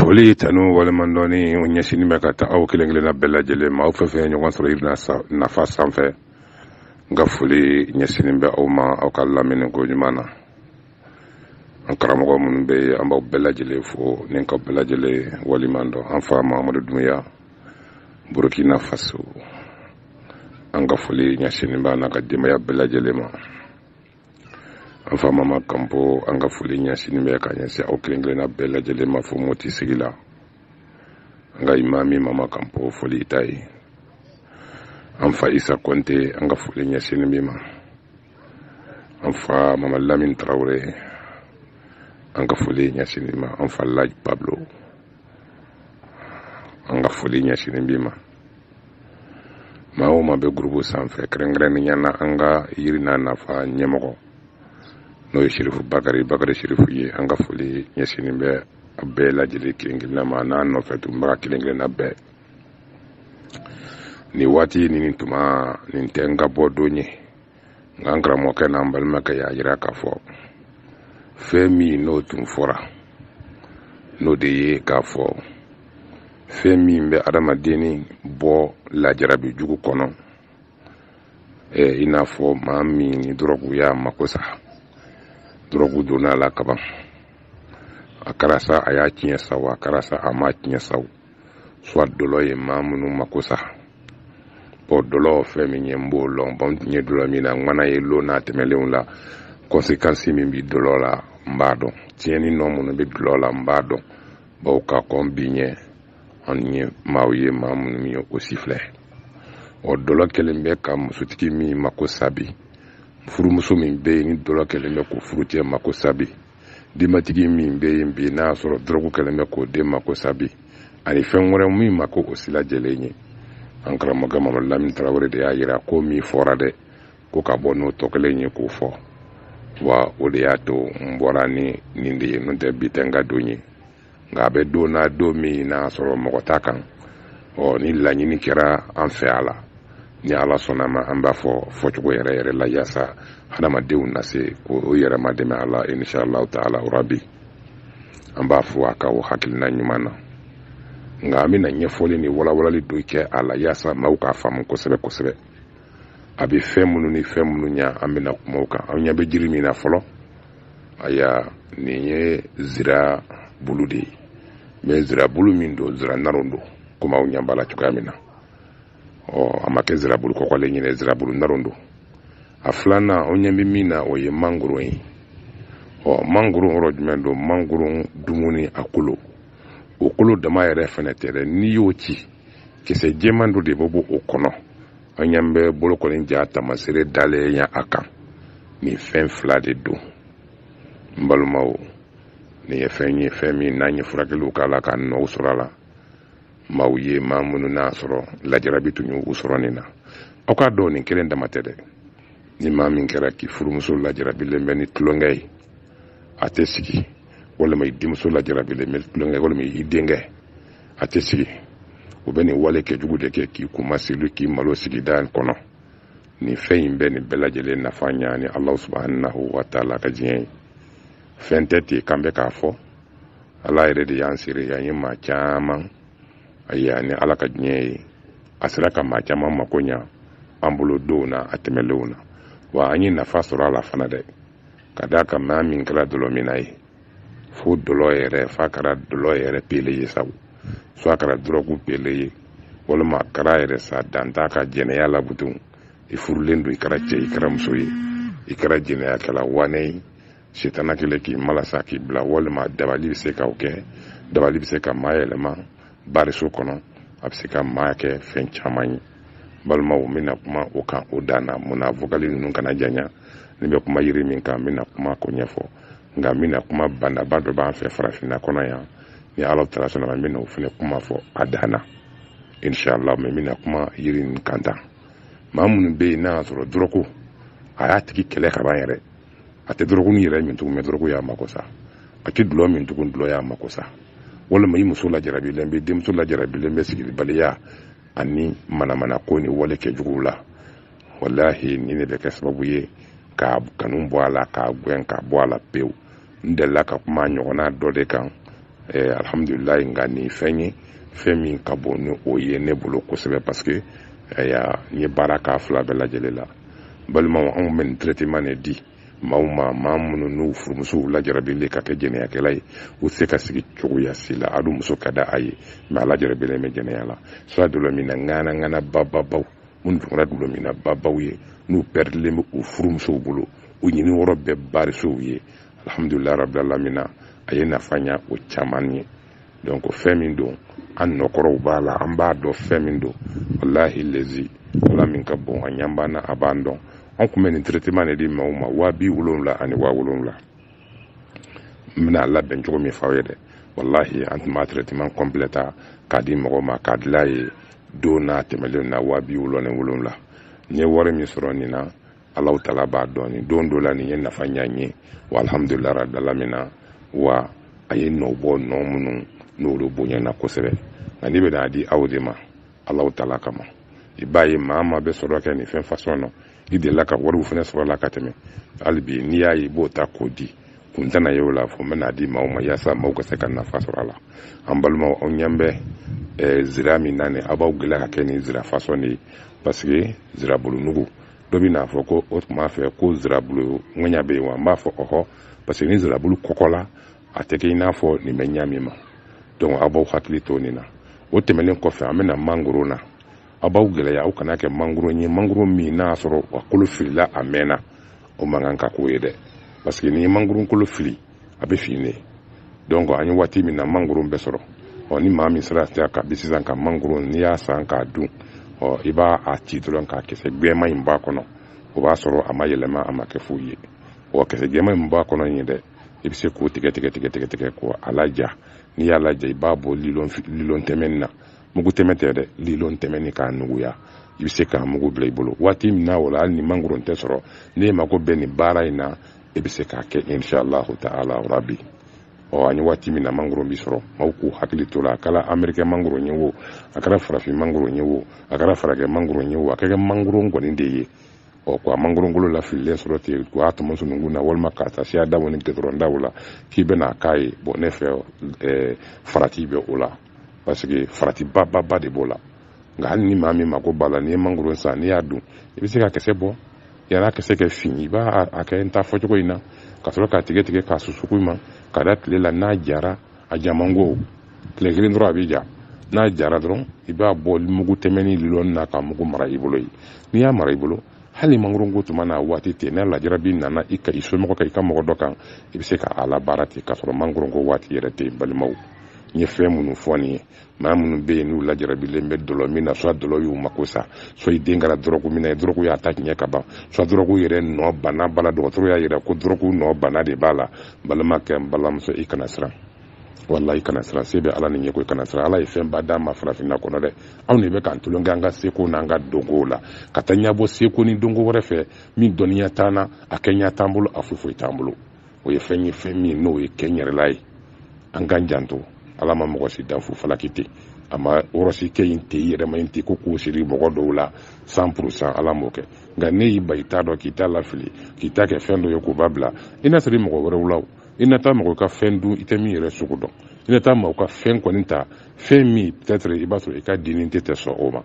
foli tanu waleɲumandɔni o ɲɛsinin bɛ ka taa aw kelen kelenna bɛɛ lajɛlen ma aw fɛn fɛn ɲɔgɔn sɔrɔ yiri n'a nafa sanfɛ n ka foli ɲɛsinin bɛ aw ma aw ka lamɛnni ko ɲuman na an karamɔgɔ minnu bɛ yen an b'aw bɛɛ lajɛlen fo ni ka bɛɛ lajɛlen waleɲumandɔn an fa mahamadu dunbiya burukina faso an ka foli ɲɛsinin b'a n'a ka denbaya bɛɛ lajɛlen ma an fa mama kanpo an ka foli ɲɛsinin bɛ ka ɲɛsin aw kelen kelenna bɛɛ lajɛlen ma fo moti sigi la an ka imami mama kanpo foli i ta ye an fa isa kɔnte an ka foli ɲɛsinin b'i ma an fa mama lamin tarawele an ka foli ɲɛsinin b'i ma an fa laji pablo an ka foli ɲɛsinin b'i ma maa o maa bɛ gurubu sanfɛ kɛrɛnkɛrɛnnenya na an ka yiri n'a nafa ɲɛmɔgɔ n'o ye sirifu bakari bakari sirifu ye an ka foli ɲɛsinnen bɛ a bɛɛ lajɛlen kelen kelenna ma n'a nɔfɛ tunbaga kelen kelenna bɛɛ nin waati nin tuma nin tɛ n ka bɔ don ye nka n karamɔgɔkɛ n'an balimakɛ y'a yira k'a fɔ fɛn min n'o tun fɔra n'o de ye k'a fɔ fɛn min bɛ adamadenni bɔ lajarabi jugu kɔnɔ eh, i n'a fɔ maa min ni dɔrɔgu y'a mako sa dɔrɔgu donna a la kaban a kɛra sa a y'a tiɲɛ sa wo a kɛra sa a m'a tiɲɛ sa soit dɔlɔ ye maa minnu mako sa bɔn dɔlɔ fɛn min ye n b'o lɔn bɔn n tun ye dɔlɔminna ŋana ye lon tɛmɛlenw la kɔnsekansi min bi dɔlɔ la n b'a dɔn tiɲɛni nɔ minnu bɛ dɔlɔ la n b'a dɔn bawo ka kɔn bi ɲɛ an ye maaw ye maa minnu ye o si filɛ ɔ dɔlɔ kɛlen bɛ ka musotigi min mako sa bi furumuso min bɛ yen ni dɔlɔ kɛlen bɛ k'o furucɛ mako sa bi denbatigi min bɛ yen bi n'a y'a sɔrɔ dɔrɔgu kɛlen bɛ k'o den mako sa bi ani fɛn wɛrɛ min mako o si lajɛlen ye an karamɔgɔ mamadu lamini tarawele de y'a yira ko min fɔra dɛ ko ka bɔ n'o tɔ kelen ye k'o fɔ wa o de y'a to n bɔra ni nin de ye n'o tɛ bi tɛ n ka don ye nka a bɛ don na don min n'a sɔrɔ mɔgɔ t'a kan ɔ ni laɲini kɛra an fɛ a la ni ala sɔnna ma an b'a fɔ fɔcogo yɛrɛ yɛrɛ la yaasa hadamadenw na se k'o yɛrɛ madɛmɛ a la inshallahu taala rabi an b'a fɔ a ka o hakilina ɲuman na nka an bɛna ɲɛfɔli ni walawalali dɔ kɛ a la yaasa maaw k'a faamu kosɛbɛ kosɛbɛ a bɛ fɛn minnu ni fɛn minnu ɲa an bɛna kuma o kan an ɲɛ bɛ jiri min na fɔlɔ ayiwa nin ye zira bulu de ye mɛ zira bulu min don zira naron don komi aw ɲɛ b'a la cogoya min na ɔ a ma kɛ zira bulu kɔkɔlen ye dɛ zira bulu naron don a filanan aw ɲɛ bɛ min na o ye mangoro ye ɔ mangoro yɔrɔ jumɛn don mangoro dumuni a kolo o kolo dama yɛrɛ fɛnɛ tɛ dɛ n'i y'o ci kisɛ jɛman dɔ de bɛ bɔ o kɔnɔ an ɲɛ bɛ bolokɔni ja tamasere dalen ye a kan nin fɛn fila de don n balimaw nin ye fɛn ye fɛn min n'an ye furakɛliw k'a la ka nɔw sɔrɔ a la maaw ye maa minnu n'a sɔrɔ lajarabi tun y'u sɔrɔ nin na aw k'a dɔn nin kelen dama tɛ dɛ ni maa min kɛra k'i furumuso lajarabilen bɛ ni tulonkɛ ye a tɛ sigi walima i denmuso lajarabilen bɛ tulonkɛ walima i denkɛ a tɛ sigi u bɛ nin walekɛjugu de kɛ k'i kunmasuli k'i malo sigida kɔnɔ nin fɛn in bɛ nin bɛɛ lajɛlen nafa ɲa ni ala subahanahu wa taala ka diɲɛ ye fɛn tɛ ten k'an bɛ k'a fɔ ala yɛrɛ de y'an sere yan ye maa caman ayiwa ni ala ka diɲɛ ye a sera ka maa caman mako ɲa an bolo donw na a tɛmɛlenw na wa an ye nafa sɔrɔ a la fana dɛ ka d'a kan maa min kɛra dɔlɔminna ye fo dɔlɔ yɛrɛ f'a kɛra dɔlɔ yɛrɛ pele ye sabu soit a kɛra dɔrɔgu pele ye walima a kɛra yɛrɛ sa dan t'a ka jɛnɛya la butun i furulen don i kɛra cɛ i kɛra muso ye i kɛra jɛnɛyakɛla wane ye setana kelen k'i malasa k'i bila walima dabali bɛ se k'o kɛ dabali bɛ se ka maa yɛlɛma bariso kɔnɔ a bɛ se ka maa kɛ fɛn caman ye balimaw n bɛna kuma o kan o dan na mun na vokali ninnu kana janya ne bɛ kuma yiri min kan n bɛna kuma ko ɲɛfɔ nka n bɛna kuma bana ba dɔ b'an fɛ farafinna kɔnɔ yan ni ala taala sɔnn'a ma n bɛna o fana kuma fɔ a dan na inshallah mɛ n bɛna kuma yiri nin kan tan maa minnu bɛ yen n'a y'a sɔrɔ dɔrɔgu a y'a tigi kɛlɛ ka ban yɛrɛ a tɛ dɔrɔgu ni yɛrɛ min tugun mɛ dɔrɔgu y'a mako sa a tɛ dulɔ min tugun dulɔ y'a mako sa walima i muso lajarabilen bɛ denmuso lajarabilen bɛ sigibaliya ani manamana ko ni walekɛjuguw la walahi nin de bɛ kɛ sababu ye k'a kanu bɔ a la k'a gɛn ka bɔ a la pewu n delila ka kuma ɲɔgɔnna dɔ de kan eh, alhamdulilayi nka nin fɛn ye fɛn min ka bon ni o ye ne bolo kosɛbɛ parce que eh, n ye baara k'a fila bɛɛ lajɛlen la balimaw anw bɛ nin traitement de di maaw ma maa minnu n'u furumusow lajarabilen ka kɛ jɛnɛyakɛla ye u se ka sigi cogoya si la a dun muso ka di a ye mɛ a lajarabilen bɛ jɛnɛya la soit dɔlɔminna ŋana ŋana bababaw minnu tun kɛra dɔlɔminna babaw ye n'u pɛridilen bɛ u furumusow bolo u ɲini yɔrɔ bɛɛ barisow ye alhamdulilayi rabil alamina a ye nafa ɲa o caman ye donc fɛn min don an nɔkɔrɔw b'a la an b'a dɔn fɛn min don walahi lezi ala min ka bon a ɲa b'an na a b'an dɔn an tun bɛ nin traitement de di mɔgɔw ma waa bi wolonwula ani waa wolonwula n bɛna labɛn cogo min f'aw ye dɛ walahi an tun b'a traitement complet ta k'a di mɔgɔw ma k'a dila ye don n'a tɛmɛlen na waa bi wolonwula ni wolonwula n ye wari min sɔrɔ nin na Ala tala b'a dɔn nin don dɔ la nin ye nafa ɲa n ye wa alhamdulila rabil alamina wa a ye nɔ bɔ nɔ minnu n'olu bonyana kosɛbɛ nka n bɛna a di aw de ma ala tala kama i b'a ye maa maa bɛ sɔrɔ kɛ nin fɛn fasɔn na i delila ka wariw fana sɔrɔ a la ka tɛmɛ hali bi n'i y'a ye i b'o ta k'o di kun tɛna ye o la fo n bɛna a di maaw ma yaasa maaw ka se ka nafa sɔrɔ a la an balimaw aw ɲɛ bɛ eh, zira min na nin aw b'aw gɛlɛya ka kɛ nin zira fasɔn de ye parce que zirabulu nugu dɔ bɛn'a fɔ ko o tun b'a fɛ ko zirabulu ŋɛɲɛ bɛ yen wa n b'a fɔ ɔhɔ parce que ni zirabulu kɔgɔla a tɛ kɛ i n'a fɔ nin bɛ ɲa min ma donc aw b'aw hakili to nin na o tɛmɛnen kɔfɛ an bɛ na mangoro na aw b'aw gɛlɛya a kana kɛ mangoro ye mangoro min n'a y'a sɔrɔ a kolo filila a mɛnna o man kan ka k'o ye dɛ parce que n'i ye mangoro kolo fili a bɛ fin de donc an ye waati min na mangoro bɛ sɔrɔ ɔ ni maa min sera ka bi sisan ka mangoro n'i y'a san k'a dun ɔ i b'a ci dɔrɔn k'a kisɛ gbɛma in b'a kɔnɔ o b'a sɔrɔ a ma yɛlɛma a ma kɛ foyi ye ɔ kisɛ gbɛma in b'a kɔnɔ in ye dɛ i bɛ se k'o tigɛ tigɛ tigɛ tigɛ tigɛ k'o a laja n'i y'a laja i b'a bɔ lilɔn lilɔn tɛmɛni na mugu tɛmɛ tɛ dɛ lilɔn tɛmɛni k'a nuguya i bɛ se k'a mugu bila i bolo waati min na o la hali ni mangoro tɛ sɔrɔ n'e mako bɛ nin baara in na e bɛ se k'a kɛ inshallahu ta'ala rabi ɔ an ye waati min na mangoro bi sɔrɔ maaw k'u hakili to la a kɛra amerikɛn mangoro ye wo a kɛra farafin mangoro ye wo a kɛra farakɛ mangoro ye wo a ka kɛ mangoro kɔni de ye ɔ ko ka mangoro kolo lafililen sɔrɔ ten k'o tɔmɔ sununkun na walima k'a ta siradaw ni gudɔrɔndaw la k'i bɛna k'a ye bon ne fɛ farati bɛ o la parce que farati ba ba ba de b'o la nka hali ni maa min mako b'a la n'i ye mangoro san n'i y'a dun i bɛ se k'a kisɛ bɔ yani a kisɛ ka fin i b'a kɛ n ta fɔcogo in na ka sɔrɔ k'a tigɛ tigɛ k'a susu koɲuman k'a da tile la n'a jara a ja man go tile kelen dɔrɔn a bɛ ja n'a jara dɔrɔn i b'a bɔ mugu tɛmɛni lilɔni na k'a mugu mara i bolo yen n'i y'a mara i bolo hali mangoronko tuma n'a waati tɛ n'a lajarabi nana i ka i somɔgɔ kan i ka mɔgɔ dɔ kan i bɛ se ka a labaara ten k'a sɔrɔ mangoronko waati yɛrɛ tɛ balimaw n ye fɛn minnu fɔ nin ye maa minnu bɛ yen n'u lajarabilen bɛ dɔlɔ min na soit dɔlɔ y'u mako sa soit i den kɛra dɔrɔgu min na dɔrɔgu y'a ta tiɲɛ ka ban soit dɔrɔgu yɛrɛ nɔ bana b'a la dɔgɔtɔrɔ y'a yira ko dɔrɔgu nɔ bana de b'a la balimakɛ n balimamuso i kana siran walayi kana siran se bɛ ala de ye n ko i kana siran ala ye fɛnba d'an ma farafinna kɔnɔ dɛ anw de bɛ k'an tulon kɛ an ka seko n'an ka donkow la ka taa ɲɛbɔ seko ni donko wɛrɛ fɛ min dɔnniya t'an na a kɛɲɛ t'an bolo a foyi foyi t'an bolo o ye fɛn ye fɛn min n'o ye kɛ yɛrɛla ye an k'an janto ala ma mɔgɔ si dan fu falaki ten a ma garisigɛ in tɛ yɛrɛma in ten ko k'o siri mɔgɔ dɔw la san purusan ala m'o kɛ nka n'e y'i ban i t'a dɔn k'i t'a lafili k'i t'a kɛ fɛn dɔ ye k'o b'a bila i na siri mɔgɔ wɛrɛw la i na taa mɔgɔ ka fɛn dun i tɛ min yɛrɛ sugu dɔn i na taa mɔgɔ ka fɛn kɔni ta fɛn min peut-être i b'a sɔrɔ i ka dini tɛ tɛ sɔn o ma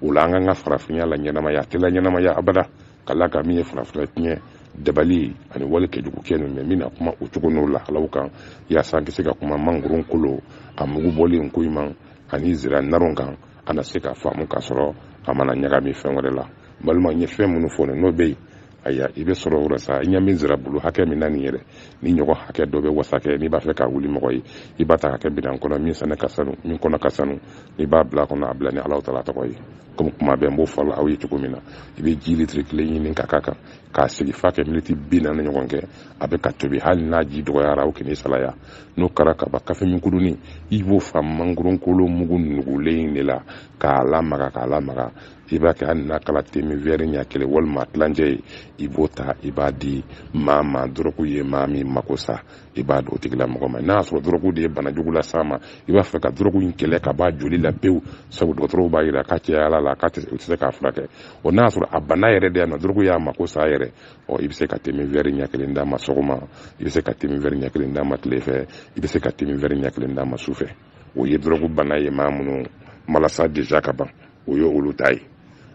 o la an k'an ka farafinya laɲɛnamaya a tɛ laɲɛnamaya abada ka la ka min ye farafina tiɲɛ dabali ani wale kɛjugu kɛ ninnu min na kuma o cogo n'o lahalaw kan yaasa an ka se ka kuma mangoron kolo a mugu bɔlen koɲuman ani zira naron kan an na se ka faamu k'a sɔrɔ a mana ɲagami fɛn wɛrɛ la balima n ye fɛn minnu fɔ n'o bɛ yen aya i bɛ sɔrɔ o la sa i ɲɛ bɛ zira bulu hakɛ min na nin yɛrɛ ni ɲɔgɔn hakɛ dɔ bɛ wasa kɛ n'i b'a fɛ k'a wuli mɔgɔ ye i b'a ta k'a kɛ minan kɔnɔ min sɛnɛ ka sanu min kɔnɔ ka sanu n'i b'a bila kɔnɔ a bila ni alahu taala tɔgɔ ye komi kuma bɛɛ n b'o fɔ aw ye cogo min na i bɛ ji litiri kelen ɲini ka k'a kan k'a sigi f'a kɛ miniti bi naani ɲɔgɔn kɛ a bɛ ka tobi hali n'a ji dɔgɔyara o kɛnɛ salaya n'o kɛra ka ban kafeminkudunin i b'o fa mangoronkolo mugu nugulen in de la k'a lamaga k'a lamaga i b'a kɛ hali n'a kɛra temin wɛri ɲɛ kelen walima tilancɛ ye i b'o ta i b'a di maa ma dɔrɔgu ye maa min mako sa i b'a d'o tigilamɔgɔ ma n'a y'a sɔrɔ dɔrɔgu de ye bana jugu las'a ma i b'a fɛ ka dɔrɔgu in kɛlɛ ka b'a joli la pewu sabu dɔgɔtɔrɔw b'a yira k'a cayal'a la k'a tɛ u tɛ se k'a furakɛ o n'a y'a sɔrɔ a bana yɛrɛ de yan nɔ dɔrɔgu y'a mako sa yɛrɛ ɔ i bɛ se ka temin wɛri ɲɛ kelen d'a ma sɔgɔma i bɛ se ka temin wɛri ɲɛ kelen d'a ma tile fɛ i bɛ se ka temin wɛri ɲɛ kelen d'a ma su fɛ o ye dɔrɔgu bana ye maa minnu malasa deja ka ban o ye olu ta ye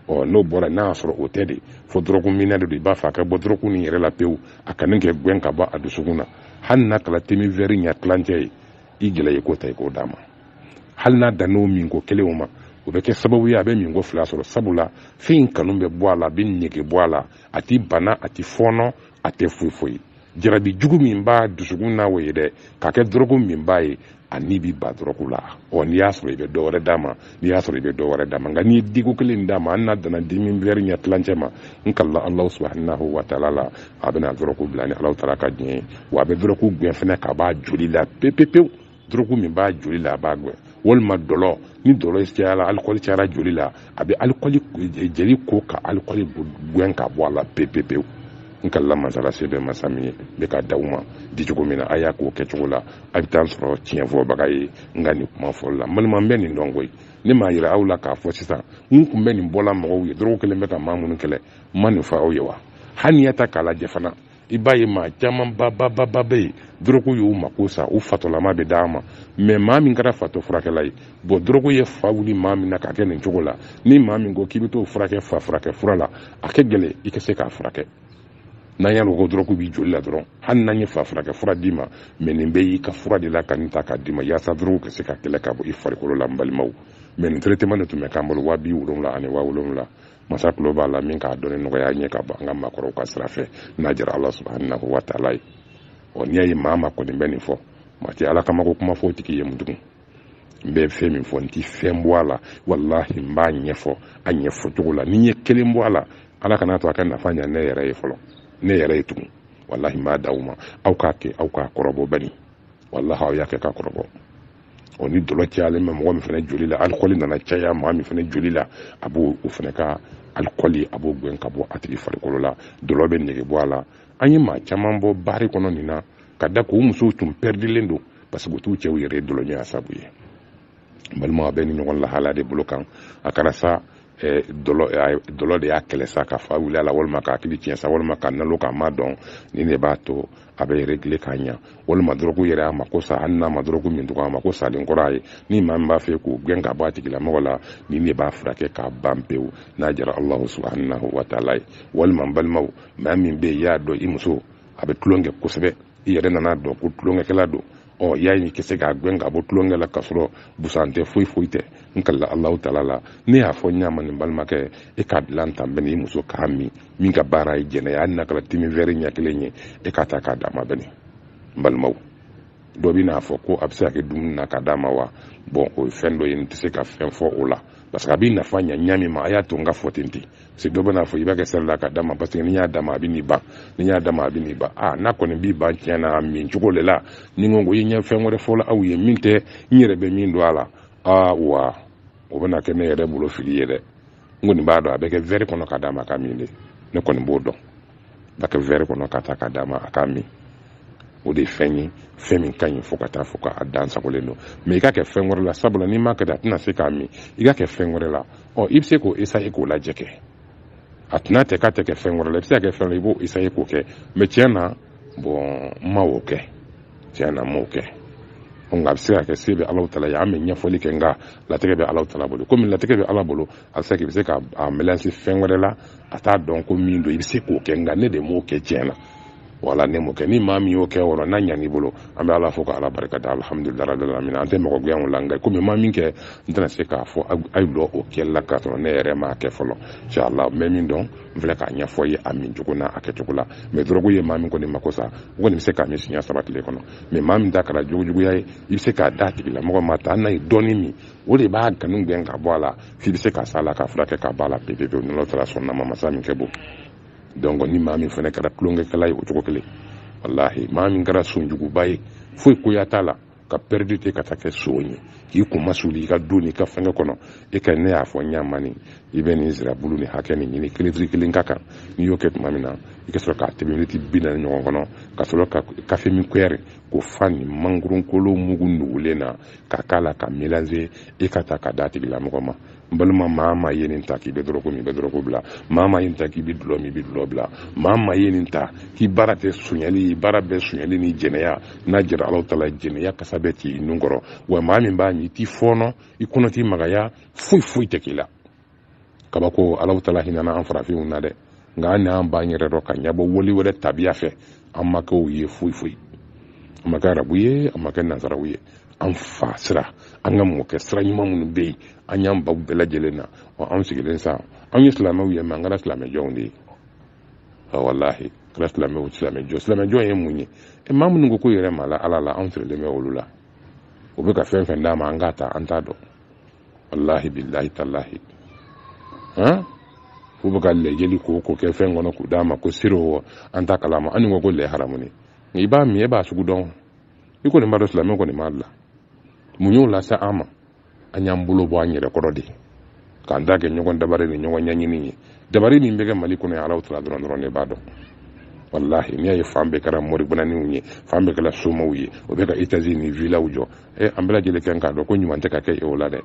ɔ n'o bɔra n'a y'a sɔrɔ o tɛ de fo dɔrɔguminna de don i b'a fɛ a ka bɔ dɔrɔgu nin yɛrɛ la pewu a kanu ka gɛn ka bɔ a dusukun na hali n'a kɛra temin vɛri ɲɛ tilancɛ ye i gɛlɛya i k'o ta i k'o d'a ma hali n'a dann'o minko kelen o ma o bɛ kɛ sababu ye a bɛ minko fila sɔrɔ sabula fɛn in kanu bɛ bɔ a la a b'a nege bɔ a la a tɛ bana a tɛ fɔɔnɔ a tɛ foyi foyi jarabi jugu min b'a dusukun na o ye dɛ k'a kɛ dɔrɔguminba ye a ni b'i ban dɔrɔgu la ɔ n'i y'a sɔrɔ i bɛ dɔ wɛrɛ d'a ma n'i y'a sɔrɔ i bɛ dɔ wɛrɛ d'a ma nka n'i ye diko kelen d'a ma hali n'a danna temin wɛri ɲɛ tilancɛ ma n kalila alahu subahanahu wa taala la a bɛna dɔrɔgu bila ni alahu taala ka diɲɛ ye wa a bɛ dɔrɔgu gɛn fɛnɛ k'a b'a joli la pepepewu dɔrɔgu min b'a joli la a b'a gɛn walima dɔlɔ ni dɔlɔ cayara alikɔli cayara joli la a bɛ alikɔli jeli ko ka alikɔli gɛn ka bɔ a la pepepewu n kalila masa la se bɛ masa min ye ne k'a d'aw ma di cogo min na a y'a k'o kɛcogo la a bɛ taa sɔrɔ tiɲɛ fɔbaga ye n ka nin kuma fɔli la balima n bɛ nin dɔn koyi ne m'a yira aw la k'a fɔ sisan n tun bɛ nin bɔla mɔgɔw ye dɔrɔgu kelen bɛ ka maa minnu kɛlɛ n ma nin fɔ aw ye wa hali n'i y'a ta k'a lajɛ fana i b'a ye maa caman babababa bɛ yen dɔrɔgu y'u mako sa u fatɔlama bɛ d'a ma mɛ maa min kɛra fatɔ furakɛla ye bɔn dɔrɔgu ye fa wuli maa min na k'a kɛ nin cogo la ni maa min ko k'i bɛ t'o furakɛ fa furakɛ fura la a ka gɛlɛn i ka se k'a furakɛ n'an y'a ko dɔrɔgu b'i joli la dɔrɔn hali n'an ye fa furakɛ fura d'i ma mɛ nin bɛ y'i ka fura de la ka nin ta k'a d'i ma yaasa dɔrɔgu ka se ka kɛlɛ ka bɔ i farikolo la n balimaw mɛ nin traitement de tun bɛ k'an bolo waa bi wolonwula ani waa wolonwula masa tulo b'a la min k'a dɔnni nɔgɔya ɲɛ ka bɔ an ka maakɔrɔw ka sira fɛ n'a jara ala subahanahu wa taala ye ɔ n'i y'a ye maa ma kɔni bɛ nin fɔ maa tɛ ala kama ko kuma fɔ o tigi ye mun tugun n bɛ fɛn min fɔ n ti fɛn bɔ a la walahi n b'a ɲɛfɔ a ɲɛfɔ cogo la ni n ye kelen bɔ a la ala kana to a ka nafa ɲa ne yɛrɛ ye fɔlɔ ne yɛrɛ ye tugun walahi n b'a da aw ma aw k'a kɛ aw k'a kɔrɔbɔ bani walahi aw y'a kɛ k'a kɔrɔbɔ o ni dɔlɔ cayalen bɛ mɔgɔ min fana joli la alikɔli nana caya maa min fana joli la a b'o o fana ka alikɔli a b'o gɛn ka bɔ a tigi farikolo la dɔlɔ bɛ nege bɔ a la an ye maa caman bɔ baari kɔnɔ nin na ka da k'u musow tun pɛridilen don parce que u t'u cɛw yɛrɛ dɔlɔɲɔgɔnya sabu ye balima bɛ nin ɲɔgɔn lahala de bolo kan a kɛra sa eh, dɔlɔ eh, dɔlɔ de y'a kɛlɛ sa ka fa wuli a la walima k'a hakili tiɲɛ sa walima k'a nalo k'a ma dɔn nin de b'a to a bɛ régler k'a ɲa walima dɔrɔgu yɛrɛ a mako sa hali n'a ma dɔrɔgu min tugun a mako salen kɔrɔ a ye ni maa min b'a fɛ k'o gɛn ka bɔ a tigilamɔgɔ la nin de b'a furakɛ k'a ban pewu n'a jara allahu subhanahu wa taala ye walima n balimaw maa min bɛ yen i y'a dɔn i muso a bɛ tulon kɛ kosɛbɛ i yɛrɛ nana dɔn ko tulonkɛkɛla don ɔ y'a ye i ka se k'a gɛn ka bɔ tulonkɛ la k'a sɔrɔ busan tɛ foyi foyi tɛ n kalila alahu taala la ne y'a fɔ ɲa min n balimakɛ e k'a dilan tan bɛn i muso k'a min min ka baara ye jɛnɛya ye n'a kɛra te min wɛri ɲɛ kelen ye e k'a ta k'a d'a ma bɛn n balimaw dɔ bɛn'a fɔ ko a bɛ se ka kɛ dumuni na ka d'a ma wa bɔn o ye fɛn dɔ ye n tɛ se ka fɛn fɔ o la parce que a b'i nafa ɲa ɲa min ma a y'a to n ka fɔ ten ten se dɔ bɛna fɔ i b'a kɛ seri la ka d'a ma parce que n'i y'a d'a ma a bɛn'i ban n'i y'a d'a ma a bɛn'i ban a n'a kɔni b'i ban tiɲɛ na a min cogo de la ni n ko i ɲɛ fɛn wɛrɛ fɔla aw ye min tɛ n yɛrɛ bɛ min dɔn a la awa o bɛna kɛ ne yɛrɛ bolo fili ye dɛ n kɔni b'a dɔn a bɛ kɛ wɛri kɔnɔ ka d'a ma a k'a min de ne kɔni b'o dɔn bɛ kɛ wɛri kɔnɔ k'a ta k'a d'a ma a k'a min o de ye fɛn ye fɛn min ka ɲi fo ka taa fɔ k'a dan sagolen don mɛ i k'a kɛ fɛn wɛrɛ la sabula n'i m'a kɛ a tɛna se k'a min i k'a kɛ fɛn wɛrɛ la ɔ i bɛ se k'o esaye k'o lajɛ kɛ a tɛna tɛ k'a tɛ kɛ fɛn wɛrɛ la i bɛ se ka kɛ fɛn i b'o esaye k'o kɛ mɛ tiɲɛ na bɔn n ma o kɛ tiɲɛ na n m'o kɛ nka a bɛ se ka kɛ se bɛ alahu taala ye an bɛ ɲɛfɔli kɛ nka latigɛ bɛ alahu taala bolo komi latigɛ bɛ ala bolo a bɛ se k'i bɛ se k'a melanze fɛn wɛrɛ la a t'a dɔn ko min don i bɛ se k'o kɛ nka ne de m'o kɛ tiɲɛ na wala ne m'o kɛ ni maa min y'o kɛ yɔrɔ n'a ɲan'i bolo an bɛ ala fo ka ala barika da alihamudulila rabbil alamin an tɛ mɔgɔ gɛn o la nka komi n ma min kɛ n tɛna se k'a fɔ a ye don o kɛli la k'a sɔrɔ ne yɛrɛ m'a kɛ fɔlɔ inshallah n bɛ min dɔn n filɛ k'a ɲɛfɔ ye a min cogo n'a a kɛcogo la mɛ dɔrɔgu ye maa min kɔni mako sa o kɔni bɛ se k'a min siɲɛ saba tile kɔnɔ mɛ maa min ta kɛra jogojuguya ye i bɛ se k'a d'a tigilamɔgɔ ma ta hali n'a ye dɔɔni min o de b'a kanu gɛn ka bɔ a la f'i bɛ se k'a s'a la k'a furakɛ ka bɔ a la pepepewu ni alahu taala sɔnna a ma masa min ka bon donc ni maa min fana kɛra tulonkɛkɛla ye o cogo kelen walahi maa min kɛra sonjuguba ye foyi koya t'a la ka pɛridi te ka taa kɛ sogo ye k'i kun ma suli i ka don n'i ka fɛngɛ kɔnɔ e ka ne y'a fɔ ɲa min i bɛ nin nsirabulu nin hakɛ nin ɲini kelefiri kelen ka kan n'i y'o kɛ tuma min na i ka sɔrɔ k'a tɛmɛ miniti bi naani ɲɔgɔn kɔnɔ ka sɔrɔ ka kafe min kuyɛri k'o fa nin mangorokolo mugu nugulen na ka k'a la k'a melanze i k'a ta k'a d'a tigilamɔgɔ ma n balima maa maa ye nin ta k'i bɛ dɔrɔgu min i bɛ dɔrɔgu bila maa maa ye nin ta k'i bɛ dulɔ min i bɛ dulɔ bila maa maa ye nin ta k'i baara tɛ sonyali baara bɛɛ sonyali ni jɛnɛya n'a diyara alahu taala jɛnɛya kasa bɛ t'i nun kɔrɔ wa maa min b'a min i t'i fɔɔnɔ i kɔnɔ t'i magaya foyi foyi tɛ k'i la kabako alahu taala hinɛna an farafinw na dɛ nka an n'an ban yɛrɛ dɔ ka ɲɛbɔ wali wɛrɛ tabiya fɛ an ma kɛ u ye foyi foyi an ma kɛ arabu ye an ma kɛ nazaraw ye an fa sira an ka mɔkɛ sira ɲuman minnu bɛ yen an y'an ban u bɛɛ lajɛlen na wa anw sigilen sa anw ye silamɛw ye mɛ an kɛra silamɛjɔnw de ye walahi kɛra silamɛw silamɛjɔ silamɛjɔn ye mun ye e maa minnu ko ko yɛrɛ ma la ala la anw sirilen bɛ olu la u bɛ ka fɛn fɛn d'an ma an k'a ta an t'a dɔn wallahi billahi tallahi han f'u bɛ ka lɛ jeli ko ko kɛ fɛn kɔnɔ k'u d'an ma ko siro an t'a kalama an ko ko lɛ haramunen i b'a min e b'a sugu dɔn i kɔni b'a dɔn silamɛ kɔni b'a la mun y'o lase an ma an y'an bolo bɔ an yɛrɛ kɔrɔ de k'an ta kɛ ɲɔgɔn dabari ni ɲɔgɔn ɲɛɲini ye dabari min bɛ kɛ mali kɔnɔ yan alahu taala dɔrɔn dɔrɔn ne b'a dɔn walahi n'i y'a ye fan bɛɛ kɛra moribananiw ye fan bɛɛ kɛra somaw ye o bɛ ka etazi ni vilaw jɔ e an bɛɛ lajɛlen kan k'a dɔn ko ɲuman tɛ ka kɛ e o la dɛ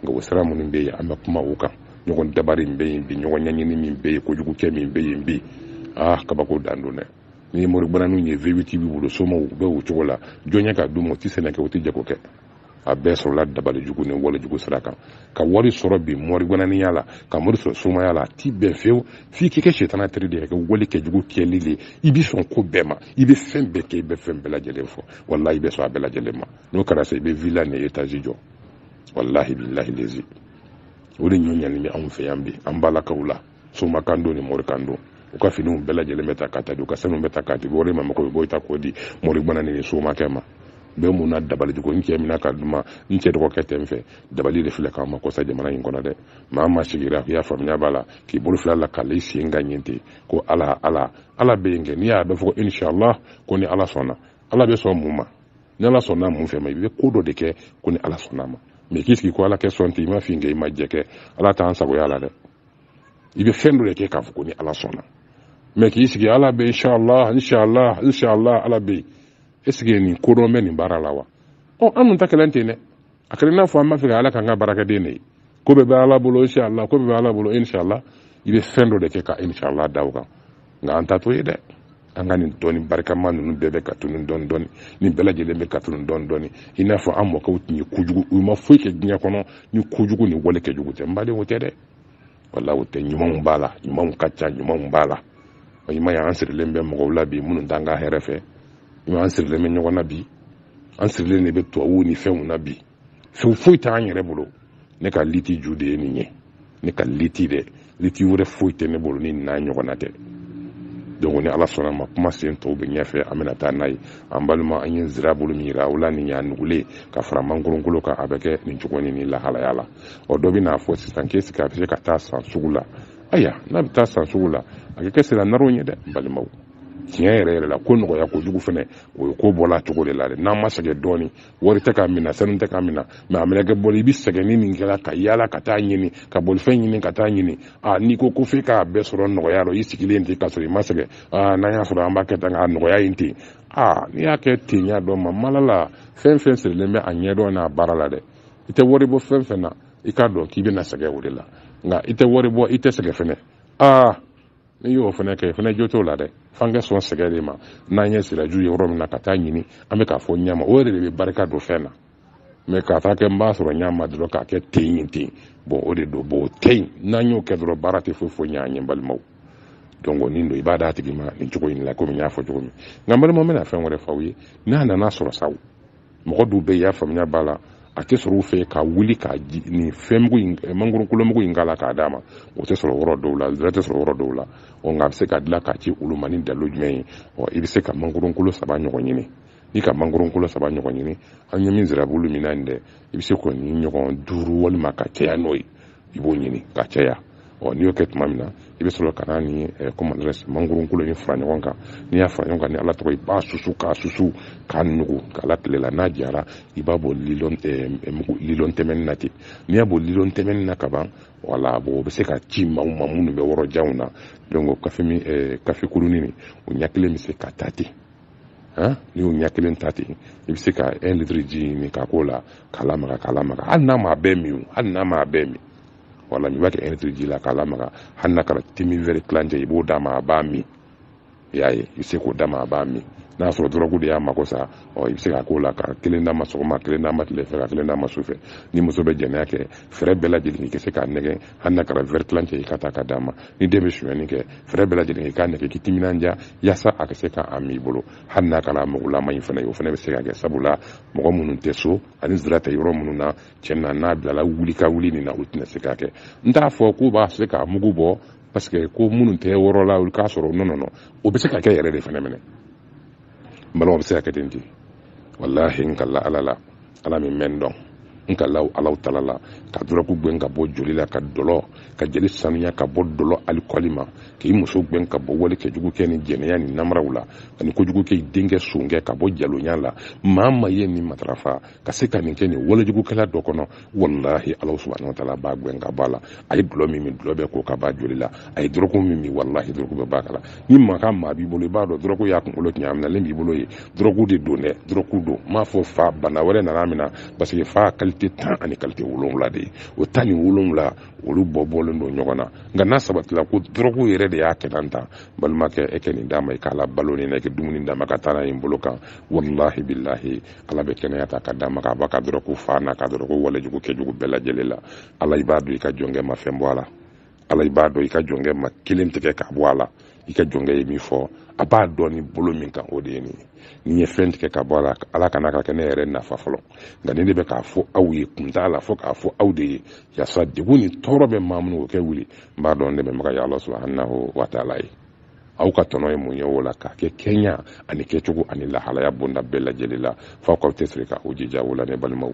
nka o sira minnu bɛ yen an bɛ kuma o kan ɲɔgɔn dabari min bɛ yen bi ɲɔgɔn ɲɛɲini min bɛ yen kojugu kɛ min bɛ yen bi aa kabako dan don dɛ n'i ye moribananinw ye vewiti b'u bolo somaw u bɛ o cogo la jɔn ye k'a d'u ma u tɛ sɛnɛ kɛ u tɛ jago kɛ a bɛɛ sɔrɔla dabali jugu ni wale jugu sira kan ka wari sɔrɔ bi moribananiya la ka wari sɔrɔ somaya la a tɛ bɛn fewu f'i k'i kɛ sitana teri de ye ka wale kɛ jugu kɛli de ye i bɛ sɔn ko bɛɛ ma i bɛ fɛn bɛɛ kɛ i bɛ fɛn bɛɛ lajɛlen fɔ walahi i bɛ sɔn a bɛɛ lajɛlen ma n'o kɛra sa i bɛ villa ni etazi jɔ walahi bilahi lezi o de ɲɔ ɲani bɛ anw fɛ yan bi an balakaw la somakan don ni morikan don u ka finiw bɛɛ lajɛlen bɛ ta ka taa di u ka sanu bɛ ta ka di wari ma mɔgɔ bɛ bɔ i ta k'o di moribana ni somakɛ ma bɛɛ mun na dabali ko n cɛ mina ka duma n cɛ dɔgɔkɛ tɛ n fɛ dabali de filɛ k'an mako sa jamana in kɔnɔ dɛ maa ma sigira i y'a faamuya b'a la k'i bolo fila la k'ale sen ka ɲin ten ko ala ala ala bɛ yen kɛ n'i y'a bɛ fɔ ko inshallah ko ni ala sɔnna ala bɛ sɔn mun ma ni ala sɔnna mun fɛ ma i bɛ ko dɔ de kɛ ko ni ala sɔnna ma mɛ k'i sigi ko ala ka sɔn ten i ma fin kɛ i ma jɛ kɛ ala t'an sagoya la dɛ i bɛ fɛn dɔ de kɛ k'a fɔ ko ni ala sɔnna mɛ k'i sigi ala bɛ inshallah inshallah inshallah ala bɛ yen est ce que nin kodɔn bɛ nin baara la wa ɔ an dun ta kɛlen ten dɛ a kɛra n'a fɔ an b'a fɛ ka ala k'an ka baarakɛden de ye ko bɛɛ bɛ ala bolo inshallah ko bɛɛ bɛ ala bolo inshallah i bɛ fɛn dɔ de kɛ ka inshallah da o kan nka an ta t'o ye dɛ an ka nin dɔnni barikama ninnu bɛɛ bɛ ka tunun dɔɔni dɔɔni nin bɛɛ lajɛlen bɛ ka tunun dɔɔni dɔɔni i n'a fɔ an mɔkɛw tun ye kojugu u ma foyi kɛ diɲɛ kɔnɔ ni kojugu ni wale kɛjugu tɛ n baden o tɛ dɛ wala o tɛ ɲumanw b'a la ɲumanw ka ca ɲumanw b'a la i m'a ye an sirilen bɛ mɔgɔw la bi minnu t'an ka hɛrɛ fɛ an sirilen bɛ ɲɔgɔn na bi an sirilen de bɛ tubabuw ni fɛnw na bi fɛn foyi t'an yɛrɛ bolo ne ka liti ju de ye nin ye ne ka liti dɛ liti wɛrɛ foyi tɛ ne bolo ni n'a ɲɔgɔnna tɛ donc ni ala sɔnna ma kuma sen tɔw bɛ ɲɛfɛ an bɛna taa n'a ye an balima an ye zirabulu min yira o la nin y'a nugulen ka fara mangoronkolo kan a bɛ kɛ nin cogo ni nin lahalaya la ɔ dɔ bɛn'a fɔ sisan k'e sigi a bɛ se ka taa san sugu la aya n'a bɛ taa san sugu la a bɛ kɛ sira naraw ye dɛ balimaw tiɲɛ yɛrɛ yɛrɛ la ko nɔgɔya kojugu fɛnɛ o ye ko bɔla cogo de la dɛ n'an ma sɛgɛn dɔɔni wari tɛ k'a minɛ sanu tɛ k'a minɛ mɛ a minɛ kɛ bɔli i bɛ sɛgɛn ni nin kɛra ka yaala ka taa ɲini ka bolifɛn ɲini ka taa ɲini a n'i ko ko f'i k'a bɛɛ sɔrɔ nɔgɔya la i sigilen ten k'a sɔrɔ i ma sɛgɛn aa n'an y'a sɔrɔ an b'a kɛ tan k'a nɔgɔya yen ten aa n'i y'a kɛ ten y'a dɔn ma mala la fɛn fɛn sirilen bɛ a ɲɛdɔn n'a baara la dɛ i tɛ wari bɔ fɛn fɛn na i k'a dɔn k'i bɛna sɛgɛn o de la nka i tɛ wari bɔ i tɛ sɛgɛn fɛnɛ aa n'i y'o fana kɛ fana jo t'o la dɛ f'an ka sɔn sɛgɛn de ma n'an ye siraju ye yɔrɔ min na ka taa ɲini an bɛ k'a fɔ ɲɛma o yɛrɛ de bɛ barika don fɛn na mɛ k'a taa kɛ n b'a sɔrɔ ɲɛma dɔrɔn k'a kɛ ten yen ten bɔn o de don bɔn o tɛ yen n'an y'o kɛ dɔrɔn baara tɛ foyi ɲɛ an ye balimaw donc nin don i b'a d'a tigi ma nin cogo in la komi n y'a fɔ cogo min nka n balimaw n bɛna fɛn wɛrɛ f'aw ye n'a nana sɔrɔ sa mɔgɔ dɔw bɛ yen i y'a faamuya b'a la a tɛ sɔrɔ u fɛ ka wuli ka nin fɛnmugu in eh, mangoronkolomugu in k'a la k'a d'a ma o tɛ sɔrɔ yɔrɔ dɔw la zira tɛ sɔrɔ yɔrɔ dɔw la ɔ nka a bɛ se ka dilan k'a ci olu ma ni dalilu jumɛn ye ɔ i bɛ se ka mangoronkolo saba ɲɔgɔn ɲini n'i ka mangoronkolo saba ɲɔgɔn ɲini an ye min zirabulu min na nin dɛ i bɛ se k'o ni ɲɔgɔn duuru walima ka caya n'o ye i b'o ɲini ka caya ɔ n'i y'o kɛ tuma min na i bɛ sɔrɔ ka na ni comment dirais-je mangoro kolo in fara ɲɔgɔn kan n'i y'a fara ɲɔgɔn kan ni ala tɔgɔ i b'a susu k'a susu k'a nugu k'a la tile la n'a jara i b'a bɔ lilɔn tɛmɛni na ten n'i y'a bɔ lilɔn tɛmɛni na ka ban wala bon o bɛ se ka ci maaw ma minnu bɛ wɔrɔ janw na donc kafe kurunin o ɲɛ kelen bɛ se ka ta ten n'i y'o ɲɛ kelen ta ten i bɛ se ka un litre ji ɲini ka k'o la k'a lamaga k'a lamaga hali n'a m'a bɛɛ min hali n'a m'a bɛɛ min wala i b'a kɛ un litre ji la k'a lamaga hali n'a kɛra demi wɛrɛ tilancɛ i b'o d'a ma a b'a min i y'a ye i bɛ se k'o d'a ma a b'a min n'a y'a sɔrɔ dɔrɔgu de y'a mako sa ɔ i bɛ se ka k'o la ka kelen d'a ma sɔgɔma kelen d'a ma tile fɛ ka kelen d'a ma su fɛ ni muso bɛ jɛnɛya kɛ fɛɛrɛ bɛɛ lajɛlen i ka se k'a nɛgɛ hali n'a kɛra wɛrɛ tilancɛ i ka taa ka d'a ma ni den bɛ sonyɛni kɛ fɛɛrɛ bɛɛ lajɛlen i k'a nɛgɛ k'i timinanja yasa a ka se k'a min i bolo hali n'a kɛra mugulama in fana ye o fana bɛ se ka kɛ sabula mɔgɔ minnu tɛ so ani zira tɛ yɔrɔ minnu na cɛn na n'a bilala wuli ka wuli nin na o tɛna se ka kɛ n t'a fɔ k'u b'a se k'a mugu bɔ parce que ko minnu tɛ wɔrɔ la olu k'a sɔrɔ non non non o bɛ se ka kɛ yɛrɛ de fana minɛ n balimaw bɛ se ka kɛ ten ten walahi n kala ala la ala min mɛn dɔn n kala alahu taala la ka dɔrɔku gɛn ka bɔ joli la ka dɔlɔ ka joli sanuya ka bɔ dɔlɔ alikɔli ma k'i muso gɛn ka bɔ wale kɛjugu kɛ ni jɛnɛya ni namaraw la ani kojugu kɛ i denkɛ sonkɛ ka bɔ jalonya la maa maa ye nin matarafa ka se ka nin kɛ nin walejugukɛla dɔ kɔnɔ walahi alahu subahana wataala b'a gɛn ka bɔ a la a ye dɔlɔ min min dɔlɔ bɛ ko ka b'a joli la a ye dɔrɔko min min walahi dɔrɔko bɛ b'a kala ni maa maa b'i bolo i b'a dɔn dɔrɔko y'a kunkolo tiɲɛ a minɛlen b'i bolo ye dɔrɔko de don dɛ dɔrɔko don n m'a fɔ fa bana wɛrɛ nana min na parce que fa kalite tan ani kalite wolonwula de ye o tan ni wolonwula olu bɔ bɔlen don ɲɔgɔn na nka n'a sabatila ko dɔrɔko yɛrɛ de y'a kɛ tan tan balimakɛ e kɛ nin d'a ma i k'a la balo ni na i kɛ dumuni d'a ma ka taa n'a ye n bolo kan walahi bilahi ala bɛ kɛnɛya ta ka d'a ma k'a b'a ka dɔrɔko fa n'a ka dɔrɔko walejugu kɛjugu bɛɛ lajɛlen la ala i b'a dɔn i ka jɔnkɛ ma fɛn bɔ a la ala i b'a dɔn i ka jɔnkɛ ma kelen tigɛ k'a bɔ a la i ka jɔnkɛ ye min fɔ a b'a dɔn ni bolo min kan o de ye nin ye ni ye fɛn tigɛ ka bɔ a la ala kana ka kɛ ne yɛrɛ nafa fɔlɔ nka nin de bɛ k'a fɔ aw ye kun t'a la fo k'a fɔ aw de ye yasa degun ni tɔɔrɔ bɛ maa minnu o kɛ wuli n b'a dɔn ne bɛ maga ya ala subahanahu wa taala ye aw ka tɔnɔ ye mun ye o la k'a kɛ kɛɲa ani kɛcogo ani lahalaya bonda bɛɛ lajɛlen la f'aw k'aw tɛsiri k'aw jija o la ne balimaw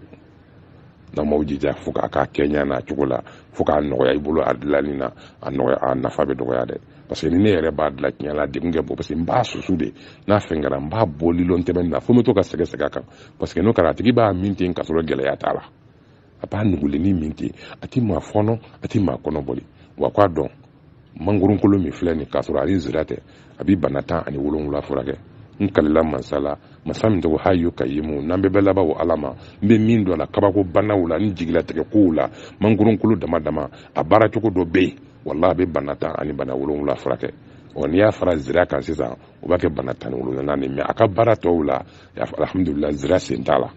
n'aw m'aw jija fo k'a k'a kɛɲɛ n'a cogo la fo k'a nɔgɔya i bolo a dilanni na a nafa bɛ dɔgɔya dɛ parce que ni ne yɛrɛ b'a dilan tiɲɛ la a degun ka bon parce que n b'a susu de n'a fɛn kɛra n b'a bɔ lilɔn tɛmɛni na fo n bɛ to ka sɛgɛsɛgɛ a kan parce que n'o kɛra a tigi b'a min ten k'a sɔrɔ gɛlɛya t'a la a b'a nugulenni min ten a tɛ maa fɔɔnɔ a tɛ maa kɔnɔ boli wa k'a dɔn mangoronkolo min filɛ nin k'a sɔrɔ a ni zira tɛ a bi bana tan ani wolonwula furakɛ n kalila mansa la masa min tɔgɔ hayu kayumu n'an bɛɛ bɛ laban o ala ma n bɛ min dɔn a la kabako banaw la ni jigilatigɛ kow la mangoronkolo dama dama a baara cogo dɔ bɛ yen walahi a bɛ bana tan ani bana wolonwula furakɛ ɔ n'i y'a fara zira kan sisan o b'a kɛ bana tan ni wolonwula ni mais a ka baara tɔw la alhamdulila zira sen t'a la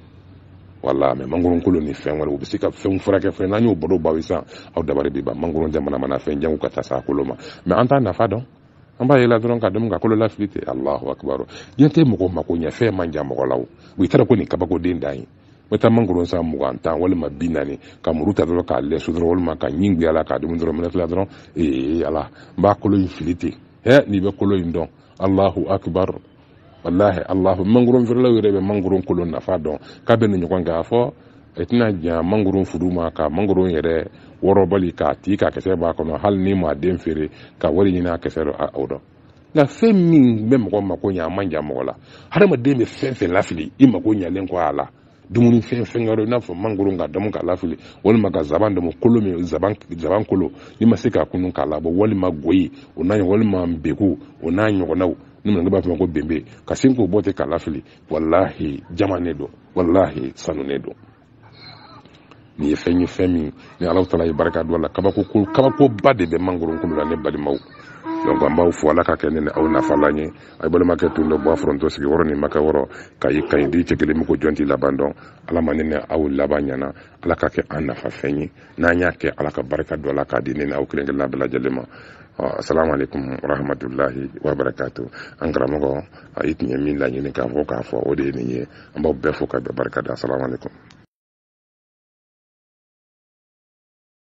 walahi mais mangoron kolo ni fɛn wɛrɛ u bɛ se ka fɛnw furakɛ fɛn n'an y'o baro baw sisan aw dabali bɛ ban mangoron jamana mana fɛn janw ka taa se kolo ma mais an t'a nafa dɔn an b'a yela dɔrɔn ka dun ka kolo lafili ten alahu akibaru diɲɛ tɛ mɔgɔ mako ɲɛ fɛn man jan mɔgɔ la o i taara ko nin kabako de dan ye bɛ taa mangoro san mugan tan walima bi naani ka muru ta dɔrɔn k'a lɛsɛ dɔrɔn walima ka ɲin guyala k'a dumu dɔrɔn miniti fila dɔrɔn ee ala n b'a kolo in fili ten he n'i bɛ kolo in dɔn allahu akbar wallahi allahu mangoron feerelaw yɛrɛ bɛ mangoron kolo nafa dɔn k'a bɛ nin ɲɔgɔn kɛ a fɔ i tɛna jan mangoron furu ma ka mangoron yɛrɛ wɔrɔbali k'a ti ka kisɛ b'a kɔnɔ hali n'i ma den feere ka wari ɲini a kisɛ dɔ o dɔn nka fɛn min bɛ mɔgɔ mako ɲɛ a man jan mɔgɔ la hadamaden bɛ fɛn fɛn lafili i mako ɲɛlen kɔ a la dumuni fɛn wɛrɛ i n'a fɔ mangoro ka damu k'a lafili walima ka zaban damu kolo min zaban kolo n'i ma se k'a kunun k'a labɔ walima goyi o n'a walima beku o n'a ɲɔgɔnnaw ni minnu b'a fɔ ko benbe ka sin k'o bɔ ten k'a lafili walahi jaman ne don walahi sanu ne don nin ye fɛn ye fɛn min ni ala taala ye barika don a la kabako ko kabakoba de bɛ mangoro kolo la ne balimaw donc an b'aw fo ala ka kɛ ne ni aw nafalan ye a ye balimakɛ tun don bɔ a foronto sigi wɔɔrɔ ni makɛ wɔɔrɔ ka ye kaɲi di cɛ kelen min ko jɔn t'i laban dɔn ala ma ne ni aw laban ɲana ala ka kɛ an nafa fɛn ye n'an y'a kɛ ala ka barika don a la k'a di ne ni aw kelen kelenna bɛɛ lajɛlen ma assalamu alaikum warahmatullahi wabarakatuh an karamɔgɔ a i tun ye min laɲini k'a fɔ k'a fɔ o de ye nin ye an b'aw bɛɛ fo k'aw bɛɛ barika da assalamu aleykum